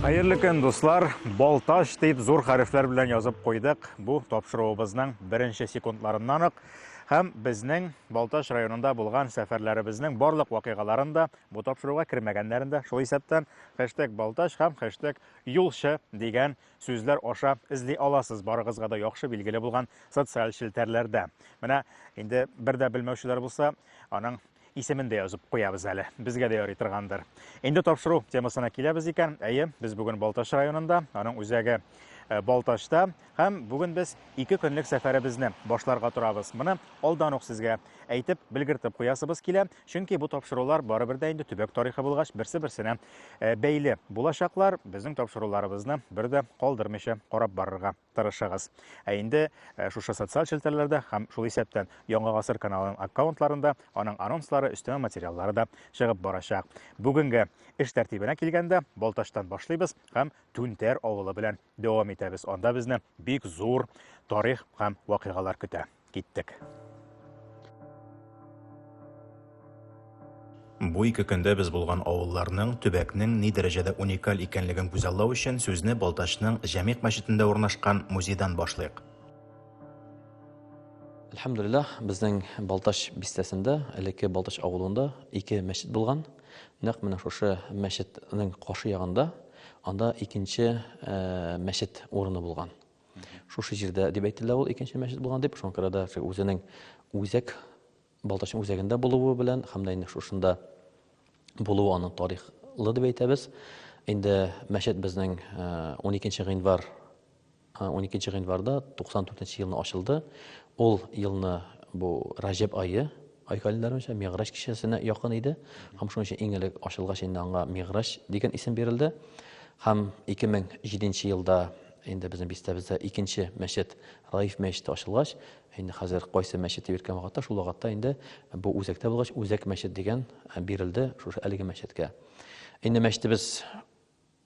Хәерле көн, дуслар! Балташ дип зур хәрефләр белән язып куйдык. Бу тапшыруыбызның беренче секундларыннан ук һәм безнең Балташ районында булган сәфәрләребезнең барлык вакыйгаларын да бу тапшыруга кермәгәннәрен дә шул исәптән хэштег Балташ һәм хэштег Юлчы дигән сүзләр аша эзли аласыз, барыгызга да яхшы билгеле булган социаль челтәрләрдә. Менә инде бер дә белмәүчеләр булса, аның исемен дә язып куябыз әле. Безгә дә ярый торгандыр. Инде тапшыру темасына киләбез икән. Әйе, без бүген Балтач районында, аның үзәге э, Балтачта һәм бүген без ике көнлек сәфәребезне башларга торабыз. Моны алдан ук сезгә әйтеп, белгертеп куясыбыз килә. Чөнки бу тапшырулар барыбер дә инде төбәк тарихы булгач, берсе-берсенә э, бәйле булачаклар. Безнең тапшыруларыбызны бер дә калдырмыйча карап барырга тырышыгыз. Ә инде э, шушы социаль челтәрләрдә һәм шул исәптән Яңа гасыр каналының аккаунтларында аның анонслары, өстәмә материаллары да чыгып барачак. Бүгенге эш тәртибенә килгәндә, Балтачтан башлыйбыз һәм Түнтәр авылы белән дәвам итәбез. Анда безне бик зур тарих һәм вакыйгалар көтә. Киттек. Бу ике көндә без булган авылларның, төбәкнең ни дәрәҗәдә уникаль икәнлеген күзаллау өчен сүзне Балтачның Җәмигъ мәчетендә урнашкан музейдан башлыйк. Әлхәмдүлилләһ, безнең Балтач бистәсендә, элекке Балтач авылында ике мәчет булган. Нәкъ менә шушы мәчетнең каршы ягында Анда икенче мәчет урыны булган. Шушы җирдә дип әйтелә ул икенче мәчет булган дип, шуңа күрә дә үзенең үзәк Балтачның үзәгендә булуы белән һәм дә инде шушында булуы аның тарихлы дип әйтәбез. Инде мәчет безнең 12 гыйнвар Уникенче гыйнварда 94 нче елны ачылды. Ул елны бу Раҗәб айы, ай календаре буенча Мигъраҗ кичәсенә якын иде. Һәм шуның өчен иң элек ачылгач инде аңа Мигъраҗ дигән исем бирелде. Һәм 2007 елда инде безнең бистәбездә икенче мәчет Раиф мәчете ачылгач, инде хәзер кайсы мәчет дип йөрткән вакытта, шул вакытта инде бу үзәктә булгач, Үзәк мәчет дигән бирелде шушы әлеге мәчеткә. Инде мәчетебез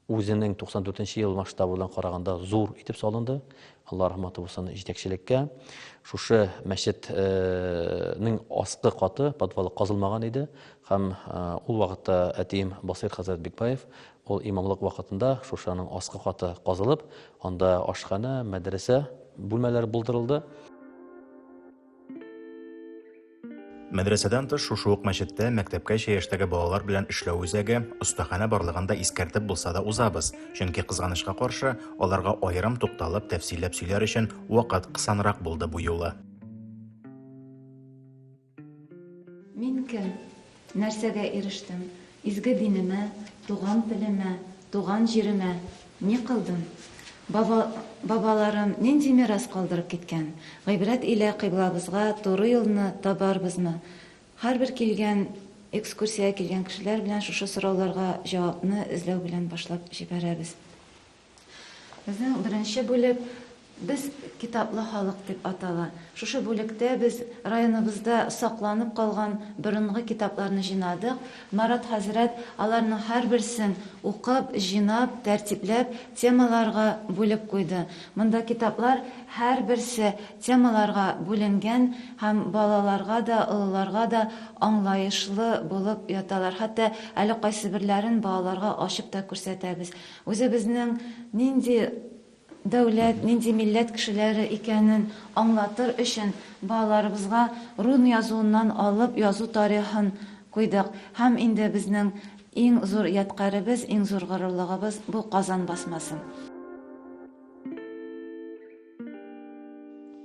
Үзенең 94 нче ел масштабы белән караганда зур итеп салынды. Алла рәхмәте булсын җитәкчелеккә. Шушы мәчетнең аскы каты, подвалы казылмаган иде һәм ул вакытта әтием Басыйр хәзрәт Бикбаев ул имамлык вакытында шушаның аскы каты казылып, анда ашханә, мәдрәсә бүлмәләре булдырылды. Мәдрәсәдән тыш шушы ук мәчеттә мәктәпкәчә яшьтәге балалар белән эшләү үзәге, остаханә барлыгын да искәртеп булса да узабыз, чөнки кызганычка каршы, аларга аерым тукталып, тәфсилләп сөйләр өчен вакыт кысанрак булды бу юлы. Мин кем? Нәрсәгә ирештем? Изге динемә, туган телемә, туган җиремә ни кылдым? Баба, бабаларым нинди мирас калдырып киткән? Гыйбрәт илә кыйблабызга туры юлны табарбызмы? Һәрбер килгән, экскурсиягә килгән кешеләр белән шушы сорауларга җавапны эзләү белән башлап җибәрәбез. Безнең беренче бүлек Без китаплы халык дип атала. Шушы бүлектә без районыбызда сакланып калган борынгы китапларны җыйнадык. Марат хәзрәт аларның һәрберсен укып, җыйнап, тәртипләп, темаларга бүлеп куйды. Монда китаплар һәрберсе темаларга бүленгән һәм балаларга да, олыларга да аңлаешлы булып яталар. Хәтта әле кайсыберләрен балаларга ачып та күрсәтәбез. Үзебезнең нинди дәүләт, нинди милләт кешеләре икәнен аңлатыр өчен балаларыбызга рун язуыннан алып язу тарихын куйдык һәм инде безнең иң зур ядкаребез, иң зур горурлыгыбыз бу Казан басмасы.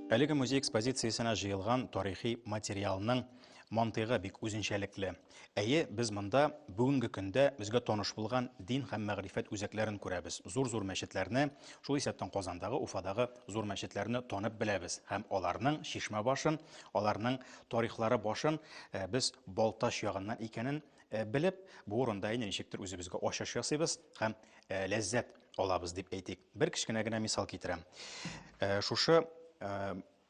Әлеге музей экспозициясенә җыелган тарихи материалның мантыйгы бик үзенчәлекле. Әйе, без монда бүгенге көндә безгә таныш булган дин һәм мәгърифәт үзәкләрен күрәбез, зур-зур мәчетләрне, шул исәптән Казандагы, Уфадагы зур мәчетләрне танып беләбез һәм аларның чишмә башын, аларның тарихлары башын без Балтач ягыннан икәнен белеп, бу урында инде ничектер үзебезгә ачыш ясыйбыз һәм ләззәт алабыз дип әйтик. Бер кечкенә генә мисал китерәм. Шушы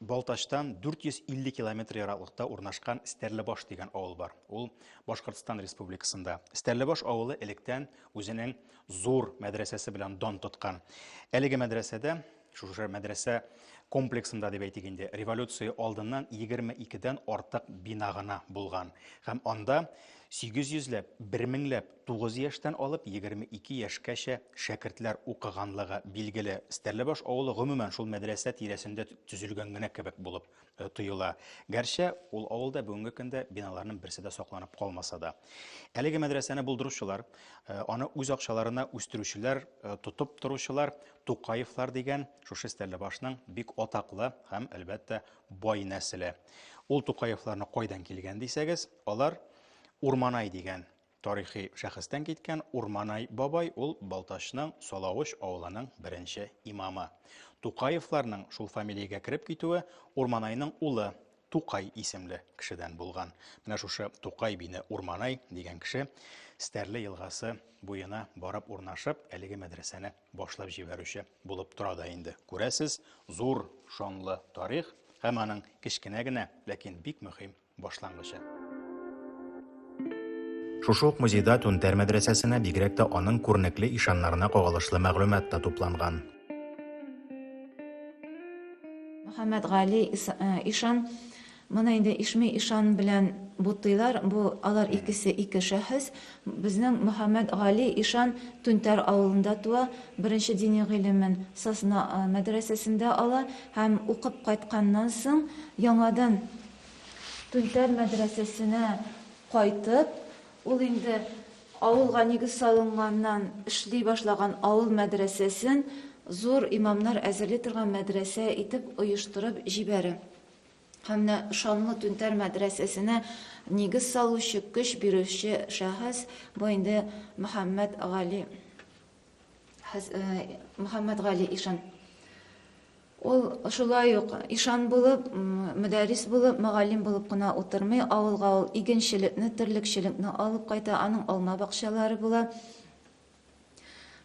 Балтачтан 450 километр ераклыкта урнашкан Стәрлебаш дигән авыл бар. Ул Башкортстан Республикасында. Стәрлебаш авылы электән үзенең зур мәдрәсәсе белән дан тоткан. Әлеге мәдрәсәдә, шушы мәдрәсә комплексында дип әйтик инде, революция алдыннан 22 дән артык бина гына булган. Һәм анда 800 ләп, 1000 ләп Тугыз яшьтән алып егерме ике яшькәчә шәкертләр укыганлыгы билгеле. Стәрлебаш авылы гомумән шул мәдрәсә тирәсендә төзелгән генә кебек булып тоела. Гәрчә ул авылда бүгенге көндә биналарның берсе дә сакланып калмаса да. Әлеге мәдрәсәне булдыручылар, аны үз акчаларына үстерүчеләр, тотып торучылар Тукаевлар дигән шушы Стәрлебашның бик атаклы һәм, әлбәттә, бай нәселе. Ул Тукаевларны кайдан килгән дисәгез, алар Урманай дигән Тарихи шәхестән киткән Урманай бабай ул Балтачның Салавыч авылының беренче имамы. Тукаевларның шул фамилиягә кереп китүе Урманайның улы Тукай исемле кешедән булган. Менә шушы Тукай бине Урманай дигән кеше Стәрле елгасы буена барып урнашып, әлеге мәдрәсәне башлап җибәрүче булып тора да инде. Күрәсез, зур шанлы тарих һәм аның кечкенә генә, ләкин бик мөһим башлангычы. Шушы ук музейда Түнтәр мәдрәсәсенә, бигрәк тә аның күренекле ишаннарына кагылышлы мәгълүмат та тупланган. Мөхәммәтгали ишан, моны инде Ишми ишан белән бутыйлар, бу алар икесе ике шәхес. Безнең Мөхәммәтгали ишан Түнтәр авылында туа, беренче дини гыйлемен Сосна мәдрәсәсендә ала һәм укып кайтканнан соң, яңадан Түнтәр мәдрәсәсенә кайтып, ул инде авылга нигез салынганнан эшли башлаган авыл мәдрәсәсен зур имамнар әзерли торган мәдрәсә итеп оештырып җибәрә. Һәм менә шанлы Түнтәр мәдрәсәсенә нигез салучы, көч бирүче шәхес, бу инде Мөхәммәт Гали. Мөхәммәтгали ишан. Ул шулай ук ишан булып, мөдәррис булып, мөгаллим булып кына утырмый, авылга ул игенчелекне, терлекчелекне алып кайта, аның алма бакчалары була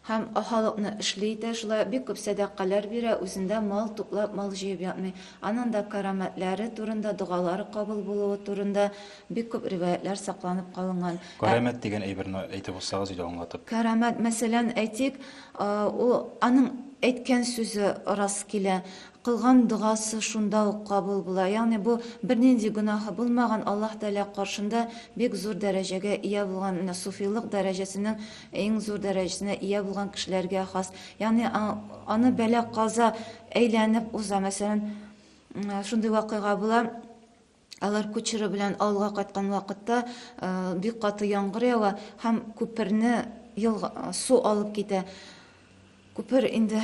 һәм халыкны эшли итә, шулай бик күп сәдакалар бирә, үзендә мал туплап, мал җыеп ятмый. Аның да карамәтләре турында, догалары кабул булуы турында Бик күп риваятьләр сакланып калынган. Карәмәт дигән әйберне әйтеп узсагыз иде аңлатып. Карәмәт, мәсәлән, әйтик, ул аның әйткән сүзе рас килә, кылган догасы шунда ук кабул була. Ягъни бу бернинди гөнаһы булмаган, Аллаһ Тәгалә каршында бик зур дәрәҗәгә ия булган, менә суфилык дәрәҗәсенең иң зур дәрәҗәсенә ия булган кешеләргә хас. Ягъни аны бәла-каза әйләнеп уза. Мәсәлән, шундый вакыйга була. Алар кучеры белән авылга кайткан вакытта бик каты яңгыр ява һәм күперне елга су алып китә. Күпер инде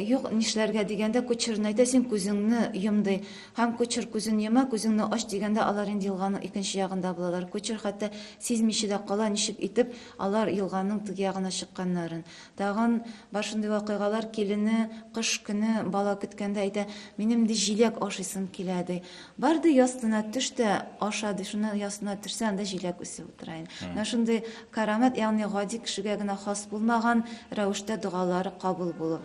юк нишләргә дигәндә кучерны әйтә син күзеңне йом ди. Һәм кучер күзен йома, күзеңне ач дигәндә алар инде елганың икенче ягында булалар. Кучер хәтта сизмичә дә кала, ничек итеп алар елганың теге ягына чыкканнарын. Тагын бар шундый вакыйгалар, килене кыш көне бала көткәндә әйтә, Минем ди җиләк ашыйсым килә, ди. Бар ди ястына төш тә аша, ди. Шуннан ястына төшсә, анда җиләк үсеп утыра иде. Менә шундый карамәт, ягъни гади кешегә генә хас булмаган рәвештә догалары кабул булу.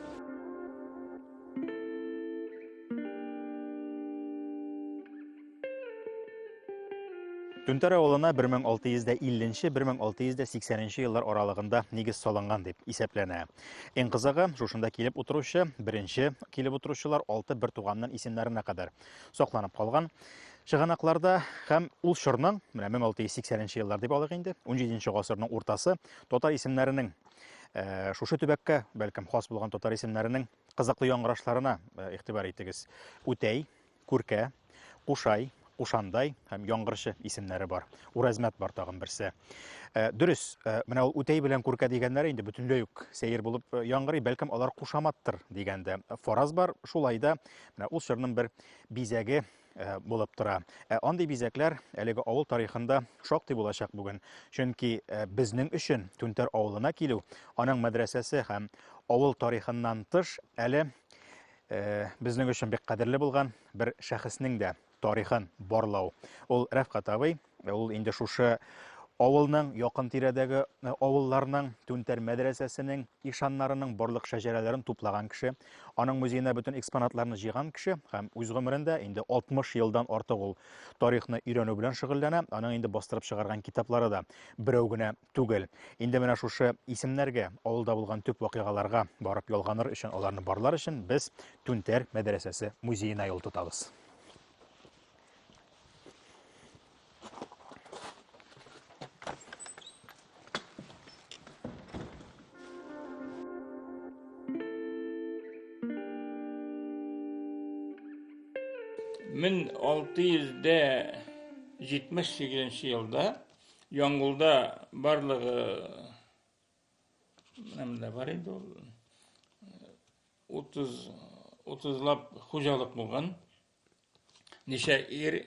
Түнтәр авылына 1650-1680 еллар аралыгында нигез салынган дип исәпләнә. Иң кызыгы, шушында килеп утыручы, беренче килеп утыручылар алты бер туганнан исемнәренә кадәр сакланып калган. Чыганакларда һәм ул чорның, менә 1680 еллар дип алыйк инде, 17 гасырның уртасы татар исемнәренең э, шушы төбәккә, бәлкем, хас булган татар исемнәренең кызыклы яңгырашларына э, игътибар итегез. Үтәй, Күркә, Кушай, Кушандай һәм Яңгырчы исемнәре бар. Урәзмәт бар тагын берсе. Э, дөрес, э, менә ул Үтәй белән Күркә дигәннәре инде бөтенләй үк сәер булып э, яңгырый, бәлкем алар кушаматтыр дигәндә фараз бар. Шулай да менә ул чорның бер бизәге Э, булып тора. Э, андый бизәкләр әлеге авыл тарихында шактый булачак бүген. Чөнки э, безнең өчен Түнтәр авылына килү, аның мәдрәсәсе һәм авыл тарихыннан тыш әле Э, безнең өчен бик кадерле булган бер шәхеснең дә тарихын барлау. Ул Рәфкат абый, э, ул инде шушы авылның, якын тирәдәге э, авылларның, Түнтәр мәдрәсәсенең ишаннарының барлык шәҗәрәләрен туплаган кеше, аның музеена бөтен экспонатларны җыйган кеше һәм үз гомерендә инде 60 елдан артык ул тарихны өйрәнү белән шөгыльләнә. Аның инде бастырып чыгарган китаплары да берәү генә Түгел. Инде менә шушы исемнәргә, авылда булган төп вакыйгаларга барып ялганыр өчен, аларны барлар өчен без Түнтәр мәдрәсәсе музеена юл тотабыз. Мең алты йөз дә җитмеш сигезенче елда Яңгулда барлыгы менә бар инде ул 30 30лап хуҗалык булган. Ничә ир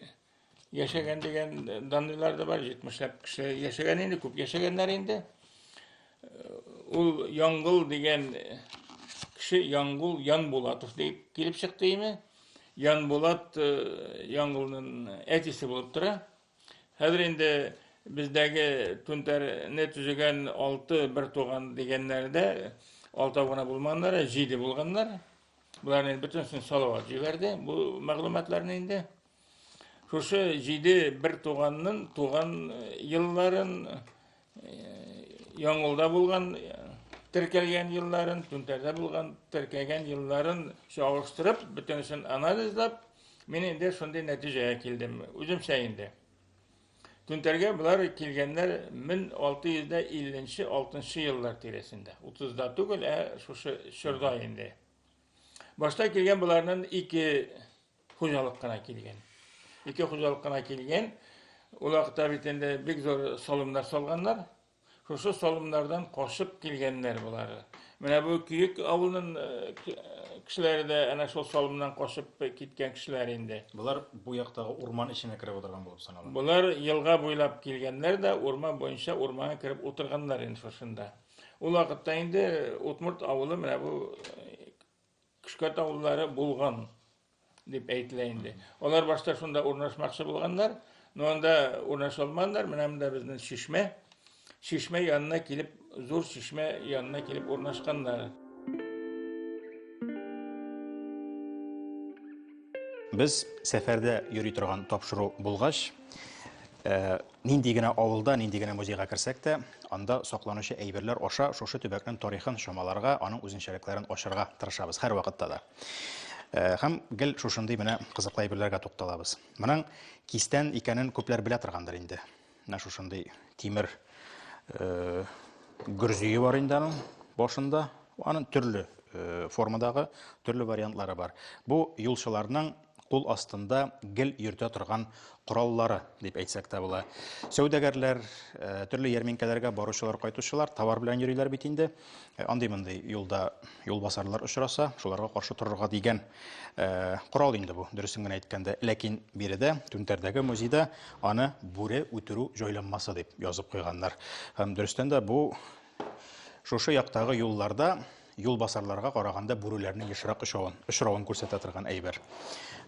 яшәгән дигән данлар да бар, 70лап кеше яшәгән инде, күп яшәгәннәр инде. Ул Яңгул дигән кеше Яңгул Янбулатов дип килеп чыкты име. Янбулат Яңгулның әтисе булып тора. Хәзер инде бездәге түнтәрне төзегән алты бер туган дигәннәр дә алтау гына булманнар, ә җиде булганнар. Боларны инде бөтенесен Салават җибәрде бу мәгълүматларны инде. Шушы җиде бер туганның туган елларын Яңгылда булган теркәлгән елларын, түнтәрдә булган теркәлгән елларын чагыштырып, бөтенесен анализлап, мин инде шундый нәтиҗәгә килдем, үземчә инде. Түнтәргә болар килгәннәр 1650-6 еллар тирәсендә. 30-да түгел, ә шушы чорда инде. Башта килгән боларның ике хуҗалык кына килгән. Ике хуҗалык кына килгән. Ул вакытта бит инде бик зур салымнар салганнар. Шушы салымнардан кашып килгәннәр болар. Менә бу Күйек авылының э, кешеләре дә әнә шул салымнан кашып киткән кешеләр инде. Болар бу яктагы урман эченә кереп утырган булып санала. Болар елга буйлап килгәннәр дә урман буенча урманга кереп утырганнар инде шушында. Ул вакытта инде Утмурт авылы менә бу э, Көшкә таулылары булган дип әйтелә инде. Алар башта шунда урнашмакчы булганнар, но анда урнаша алмаганнар. Менә монда безнең чишмә. Чишмә янына килеп, зур чишмә янына килеп урнашканнар. Без сәфәрдә йөри торган тапшыру булгач, э, Нинди генә авылда, нинди генә музейга керсәк тә, анда сакланучы әйберләр аша шушы төбәкнең тарихын чамаларга, аның үзенчәлекләрен ачарга тырышабыз һәрвакытта да. Э, һәм гел шушындый менә кызыклы әйберләргә тукталабыз. Моның кистән икәнен күпләр белә торгандыр инде. Менә шушындый тимер э, гөрзие бар инде аның башында. Аның төрле э, формадагы, төрле вариантлары бар. Бу юлчыларның кул астында гел йөртә торган кораллары, дип әйтсәк тә була. Сәүдәгәрләр, э, төрле ярминкәләргә баручылар, кайтучылар товар белән йөриләр бит инде. Э, андый-мондый юлда юлбасарлар очраса, шуларга каршы торырга дигән э, корал инде бу, дөресен генә әйткәндә. Ләкин биредә, Түнтәрдәге музейда аны бүре үтерү җайланмасы дип язып куйганнар. Һәм дөрестән дә бу шушы яктагы юлларда юлбасарларга караганда бүреләрнең ешрак очавын, очравын күрсәтә торган әйбер.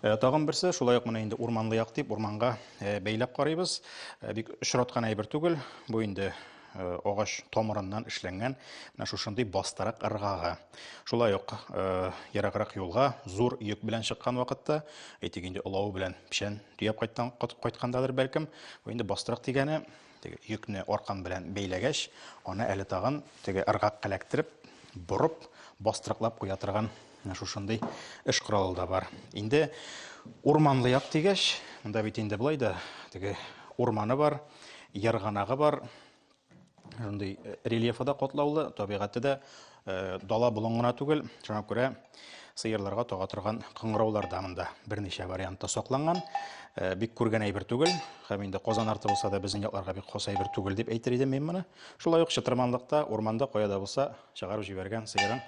Э, тагын берсе, шулай ук менә инде урманлы як дип, урманга э, бәйләп карыйбыз. Э, бик очраткан әйбер түгел. Бу инде агач тамырыннан эшләнгән менә шушындый бастырак ыргага. Шулай ук ераграк юлга зур йөк белән чыккан вакытта, әйтик инде олавы белән печән төяп кайткан кайткандадыр бәлкем, бу инде бастырак дигәне Теге йөкне аркан белән бәйләгәч, аны әле тагын теге ыргак каләктереп, борып, бастырыклап куя торган шушындый эш коралы да бар. Инде урманлы як дигәч, монда бит инде болай да теге урманы бар, ярганагы бар. Шундый э, рельефы да катлаулы, табигате дә Э, дала болын гына түгел, шуңа күрә сыерларга тага торган кыңгыраулар да монда берничә вариантта сакланган. Э, бик күргән әйбер түгел, һәм инде Казан арты булса да безнең якларга бик хас әйбер түгел дип әйтер идем мин моны. Шулай ук чытырманлыкта, урманда кая да булса чыгарып җибәргән сыерың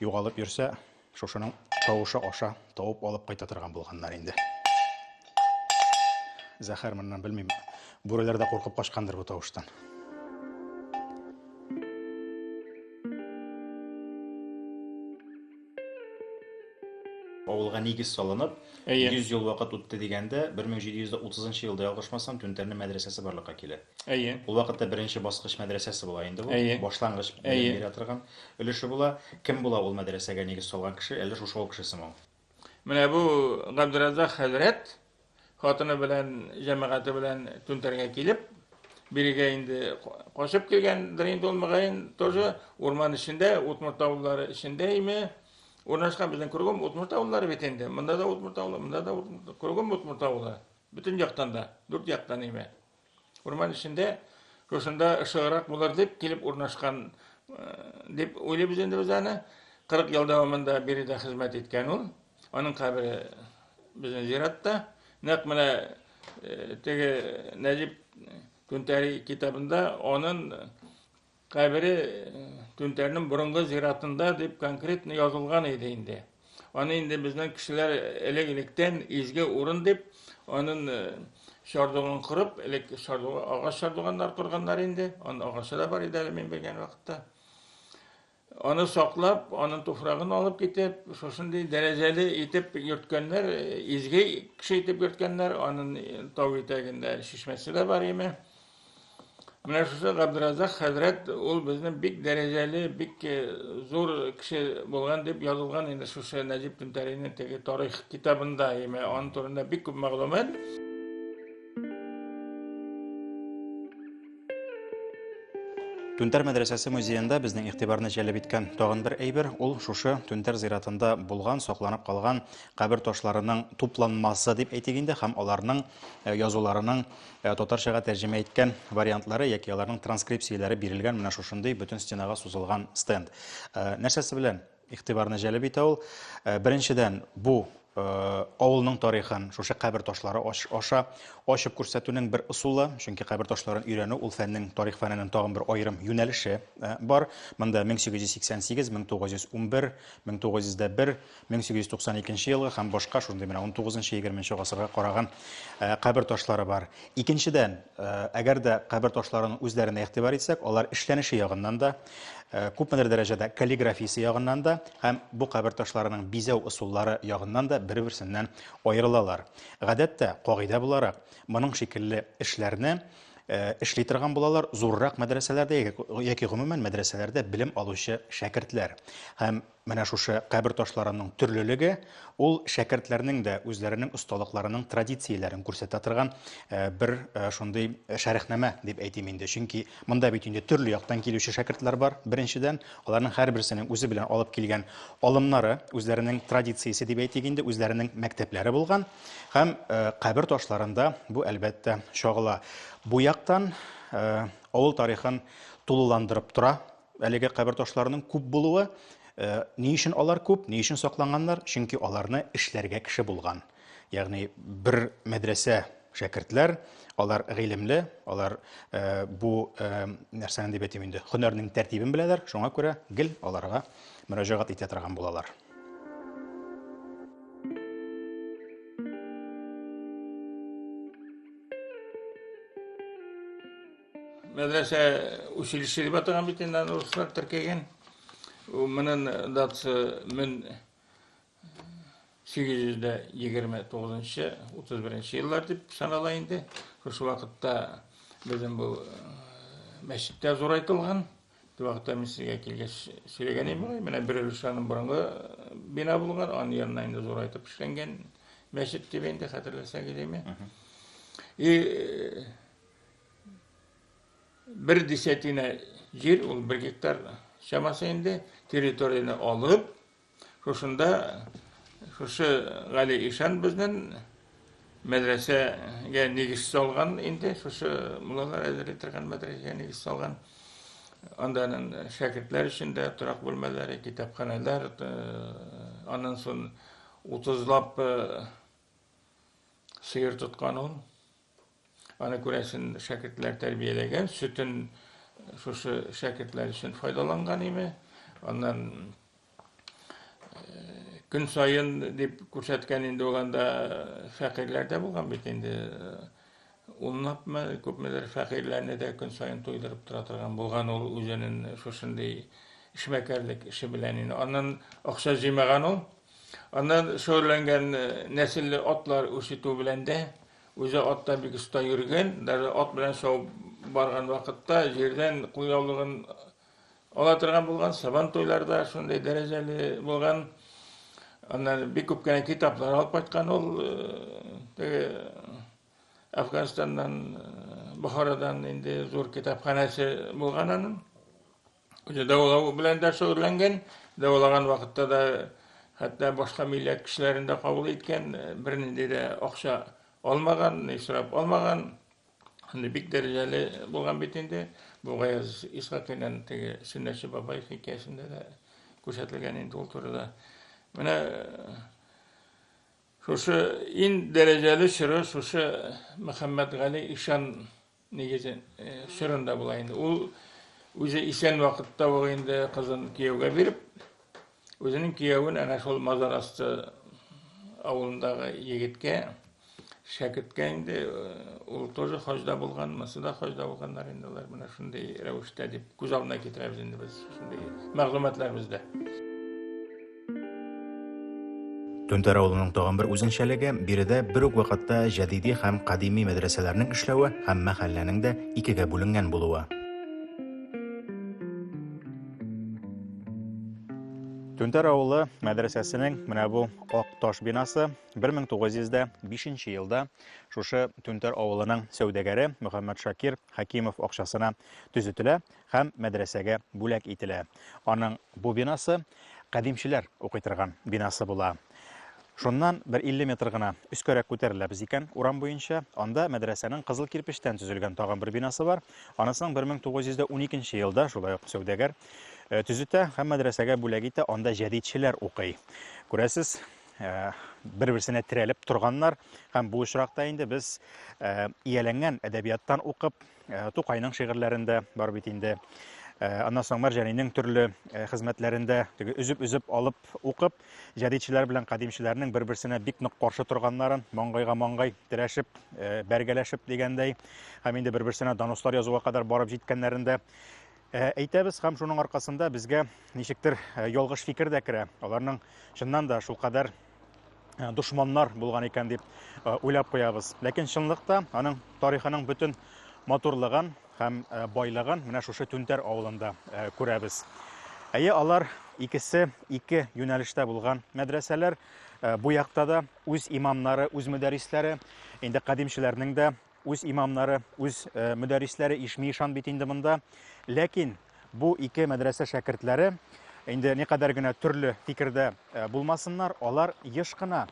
югалып йөрсә, Шушының тавышы аша тавып алып кайта торган булганнар инде. Зәхәр моннан белмим. Бүреләр дә куркып качкандыр бу тавыштан. Авылга нигез салынып, 100 ел вакыт үтте дигәндә, 1730 елда ялгышмасам, Түнтәрне мәдрәсәсе барлыкка килә. Әйе. Ул вакытта беренче баскыч мәдрәсәсе була инде бу. Әйе. Башлангыч белем бирә торган өлеше була. Кем була ул мәдрәсәгә нигез салган кеше, әллә шушы авыл кешесеме ул? Менә бу Габдерәззак хәзрәт хатыны белән, җәмәгате белән Түнтәргә килеп, бирегә инде качып килгәндер инде ул, мөгаен, тоже урман эчендә, Утмурт авыллары эчендә име, урнашкан безнең кругом Утмурт авыллары бит инде. Монда да Утмурт авылы, монда да Утмурт, кругом Утмурт авылы. Бөтен яктан да, дүрт яктан име. Урман эчендә шушында ышыграк булыр дип килеп урнашкан дип уйлыйбыз инде без аны. 40 ел дәвамында биредә хезмәт иткән ул. Аның кабере безнең зиратта. Нәкъ менә теге Нәҗип Күнтәри китабында аның Кабере Түнтәрнең борынгы зиратында дип конкретно язылган иде инде. Аны инде безнең кешеләр элек-электән изге урын дип, анын чардугын корып, элек чардуга агач чардуганнар корганнар инде. Аны агачы да бар иде әле мин белгән вакытта. Аны саклап, анын туфрагын алып китеп, шушындый дәрәҗәле итеп йөрткәннәр, изге кеше итеп йөрткәннәр. Анын тау итәгендә чишмәсе дә бар име. Менә шушы Габдразак хәзрәт ул безне бик дәрәҗәле, бик э, зур кеше булган дип язылган инде шушы Нәҗип Түнтәринең теге тарих китабында, яме аның турында бик күп мәгълүмат. Түнтәр мәдрәсәсе музеенда безнең игътибарны җәлеп иткән тагын бер әйбер ул шушы Түнтәр зиратында булган, сакланып калган кабер ташларының тупланмасы дип әйтик инде һәм аларның э, язуларының Ә татарчага тәрҗемә иткән вариантлары яки аларның транскрипцияләре бирелгән менә шушындый бөтен стенага сузылган стенд. Э, нәрсәсе белән игътибарны җәлеп итә ул? Э, беренчедән, бу Э, авылның тарихын шушы кабер ташлары аша ачып күрсәтүнең бер ысулы, чөнки кабер ташларын өйрәнү ул фәннең тарих фәненең тагын бер аерым юнәлеше э, бар. Монда 1888, 1911, 1901, 1892 елгы һәм башка шундый менә 19-20 гасырга караган кабер ташлары бар. Икенчедән, әгәр дә кабер ташларының үзләренә игътибар итсәк, алар эшләнеше ягыннан да, күпмедер дәрәҗәдә каллиграфиясе ягыннан да һәм бу кабер ташларының бизәү ысуллары ягыннан да бер-берсеннән аерылалар. Гадәттә, кагыйдә буларак, моның шикелле эшләрне эшли торган булалар зуррак мәдрәсәләрдә яки гомумән мәдрәсәләрдә белем алучы шәкертләр. Һәм Менә шушы кабер ташларының төрлелеге ул шәкертләрнең дә үзләренең осталыкларының традицияләрен күрсәтә торган бер шундый шәрехнамә дип әйтим инде. Чөнки монда бит инде төрле яктан килүче шәкертләр бар, беренчедән, аларның һәрберсенең үзе белән алып килгән алымнары, үзләренең традициясе дип әйтик инде, үзләренең мәктәпләре булган һәм кабер ташларында бу, әлбәттә, чагыла. Бу яктан авыл тарихын тулыландырып тора Әлеге кабер ташларының күп булуы, э, ни өчен алар күп, ни өчен сакланганнар? Чөнки аларны эшләргә кеше булган. Ягъни бер мәдрәсә шәкертләр, алар гыйлемле, алар э, бу э, нәрсәне дип әйтим инде, һөнәрнең тәртибен беләләр, шуңа күрә гел аларга мөрәҗәгать итә торган булалар. Мәдрәсә училище дип атаган бит инде аны руслар теркәгән. Монын датасы 1829-31 еллар дип санала инде. Шушы вакытта безнең бу э, мәчет тә зурайтылган. Бу вакытта мин сезгә килгәч сөйләгән идем, менә бер өлеш аның борынгы э, бина булган, аның янына инде зурайтып эшләнгән мәчет дип инде хәтерләсәгез име. И э, Бер десятина җир, ул бер гектар чамасы инде, территорияне алып, шушында шушы Гали Ишан безнен мәдрәсәгә нигез салган инде, шушы муллалар әзерли торган мәдрәсәгә нигез салган. Анда шәкертләр өчен дә торак бүлмәләре, китапханәләр, аннан соң утызлап сыер тоткан ул. Аны күрәсен шәкертләр тәрбияләгән, сөтен шушы шәкертләр өчен файдаланган име. Аннан көн саен дип күрсәткән инде ул анда фәкыйрьләр дә булган бит инде унлапмы күпмедер фәкыйрьләрне дә көн саен туйдырып тора торган булган ул үзенең шушындый эшмәкәрлек эше белән инде аннан акча җыймаган ул аннан шөгыльләнгән нәселле атлар үрчетү белән дә Үзе атта бик оста йөргән, даже ат белән шауып барган вакытта җирдән кулъяулыгын ала торган булган, Сабан туйларда шундый дәрәҗәле булган. Аннан бик күп кенә китаплар алып кайткан ул теге Афганистаннан, Бохарадан инде зур китапханәсе булган аның. Үзе дәвалау белән дә шөгыльләнгән, дәвалаган вакытта да хәтта башка милләт кешеләрен дә кабул иткән, бернинди дә акча алмаган, ни сорап алмаган. Аны бик дәрәҗәле булган бит инде. Бу Гаяз Исхакинен теге Сөннәтче бабай хикәясендә дә күрсәтелгән инде ул турыда. Менә шушы ин дәрәҗәле чоры шушы Мөхәммәт Гали ишан Нигезе чорында була инде. Ул үзе исән вакытта ул инде кызын кияүгә биреп, үзенең киявен әнә шул мазар асты авылындагы егеткә шәкерткә инде ул тоже хаҗда булган, монысы да хаҗда булганнар инде алар менә шундый рәвештә дип күз алдына китерәбез инде без шундый мәгълүматлар бездә. Түнтәр авылының тагын бер үзенчәлеге, биредә бер үк вакытта җәдиди һәм кадими мәдрәсәләрнең эшләве һәм мәхәлләнең дә икегә бүленгән булуы. Түнтәр авылы мәдрәсәсенең менә бу ак таш бинасы 1905 елда шушы Түнтәр авылының сәүдәгәре Мөхәммәт Шакир Хәкимов акчасына төзетелә һәм мәдрәсәгә бүләк ителә. Аның бу бинасы кадимчеләр укый торган бинасы була. Шуннан бер 50 метр гына өскәрәк күтәреләбез икән, урам буенча, анда мәдрәсәнең кызыл кирпечтән төзелгән тагын бер бинасы бар. Анысының 1912 елда шулай ук сәүдәгәр э, төзетә һәм мәдрәсәгә бүләк итә, анда җәдидчеләр укый. Күрәсез, э, бер-берсенә терәлеп торганнар һәм бу очракта инде без э, ияләнгән әдәбияттан укып, Э, Тукайның шигырьләрендә бар бит инде. Э, аннан соң Мәрҗәнинең төрле э, хезмәтләрендә теге өзеп-өзеп алып укып, җәдидчеләр белән кадимчеләрнең бер-берсенә бик нык каршы торганнарын, маңгайга маңгай терәшеп, бәргәләшеп дигәндәй, һәм инде бер-берсенә донослар язуга кадәр барып җиткәннәрен дә әйтәбез һәм шуның аркасында безгә ничектер ялгыш фикер дә керә. Аларның чыннан да шулкадәр Э, дошманнар булган икән дип э, уйлап куябыз. Ләкин чынлыкта аның тарихының бөтен матурлыгын һәм э, байлыгын менә шушы Түнтәр авылында күрәбез. Әйе, алар икесе ике юнәлештә булган мәдрәсәләр. Бу якта да үз имамнары, үз мөдәрисләре, инде кадимчеләрнең дә үз имамнары, үз э, мөдәррисләре ишми-ишан бит инде монда. Ләкин бу ике мәдрәсә шәкертләре инде никадәр генә төрле фикердә э, булмасыннар, алар еш кына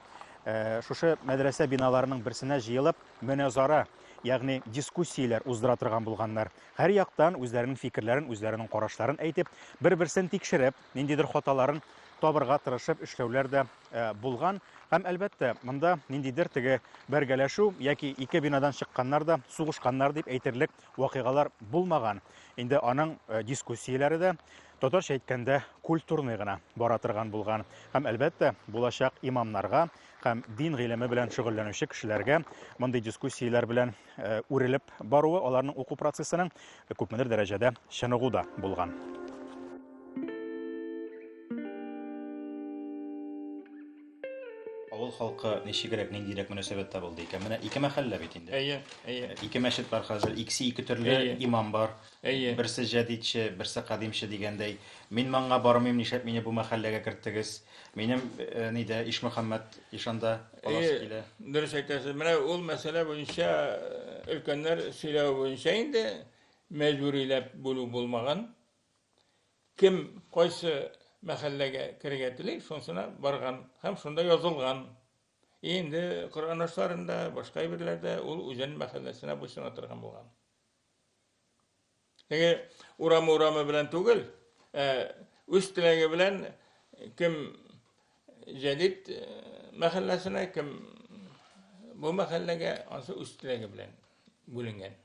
э, шушы мәдрәсә биналарының берсенә җыелып мөнәзара, ягъни дискуссияләр уздыра торган булганнар. Һәр яктан үзләренең фикерләрен, үзләренең карашларын әйтеп, бер-берсен тикшереп, ниндидер хаталарын табырга тырышып эшләүләр дә э, булган. Һәм әлбәттә, монда ниндидер теге бәргәләшү яки ике бинадан чыкканнар да сугышканнар дип әйтерлек вакыйгалар булмаган. Инде аның э, дискуссияләре дә татарча әйткәндә культурный гына бара торган булган. Һәм әлбәттә, булачак имамнарга һәм дин гыйлеме белән шөгыльләнүче кешеләргә мондый дискуссияләр белән үрелеп баруы аларның уку процессының күпмедер дәрәҗәдә чыныгу да булган. Авыл халкы ничегрәк, ниндирәк мөнәсәбәттә булды икән? Менә ике мәхәллә бит инде. Әйе, әйе. Ике мәчет бар хәзер, икесе ике төрле имам бар. Әйе. Берсе җәдидче, берсе кадимче дигәндәй. Мин манга бармыйм, нишләп мине бу мәхәлләгә керттегез? Минем нидә, Ишмөхәммәт ишанда каласы килә. Әйе, дөрес әйтәсез. Менә ул мәсьәлә буенча өлкәннәр сөйләве буенча инде мәҗбүриләп бүлү булмаган. Кем кайсы мәхәлләгә керергә тели, шунысына барган һәм шунда язылган. И инде Коръән ашларында, башка әйберләрдә ул үзен мәхәлләсенә буйсына торган булган. Теге урамы-урамы белән түгел, ә үз теләге белән кем җәдит э, мәхәлләсенә, кем бу мәхәлләгә, ансы үз теләге белән бүленгән.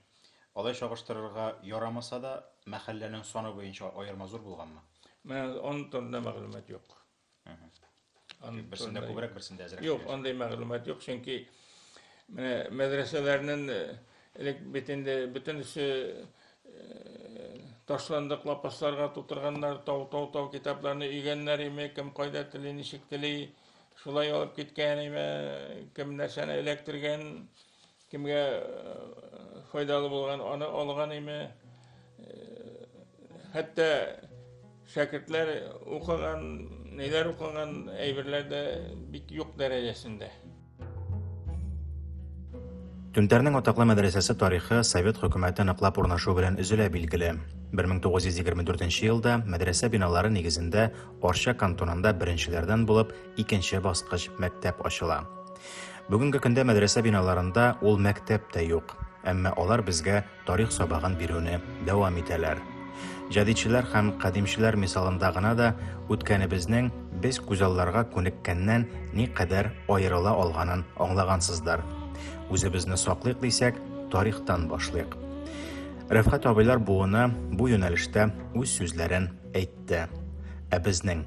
Алай чагыштырырга ярамаса да, мәхәлләнең саны буенча аерма зур булганмы? Менә он турында мәгълүмат юк. Берсендә күбрәк, берсендә әзрәк. Юк, андый мәгълүмат юк, чөнки менә мәдрәсәләрнең элек бит инде бөтенесе ташландык лапасларга тутырганнар, тау-тау-тау китапларны өйгәннәр име, кем кайда тели, ничек тели, шулай алып киткән име, кем нәрсәне эләктергән, Кемгә файдалы булган, аны алган име? Хәтта шәкертләр укыган, ниләр укыган әйберләр дә бик юк дәрәҗәсендә. Түнтәрнең атаклы мәдрәсәсе тарихы совет хөкүмәте ныклап урнашу белән өзелә билгеле. 1924 елда мәдрәсә биналары нигезендә Арча кантонында беренчеләрдән булып икенче баскыч мәктәп ачыла. Бүгенге көндә мәдрәсә биналарында ул мәктәп тә юк, әмма алар безгә тарих сабагын бирүне дәвам итәләр. Җәдидчеләр һәм кадимчеләр мисалында гына да үткәнебезнең без күзалларга күнеккәннән никадәр аерыла алганын аңлагансыздыр. Үзебезне саклыйк дисәк, тарихтан башлыйк. Рәфхәт абыйлар буыны бу юнәлештә үз сүзләрен әйтте. Ә безнең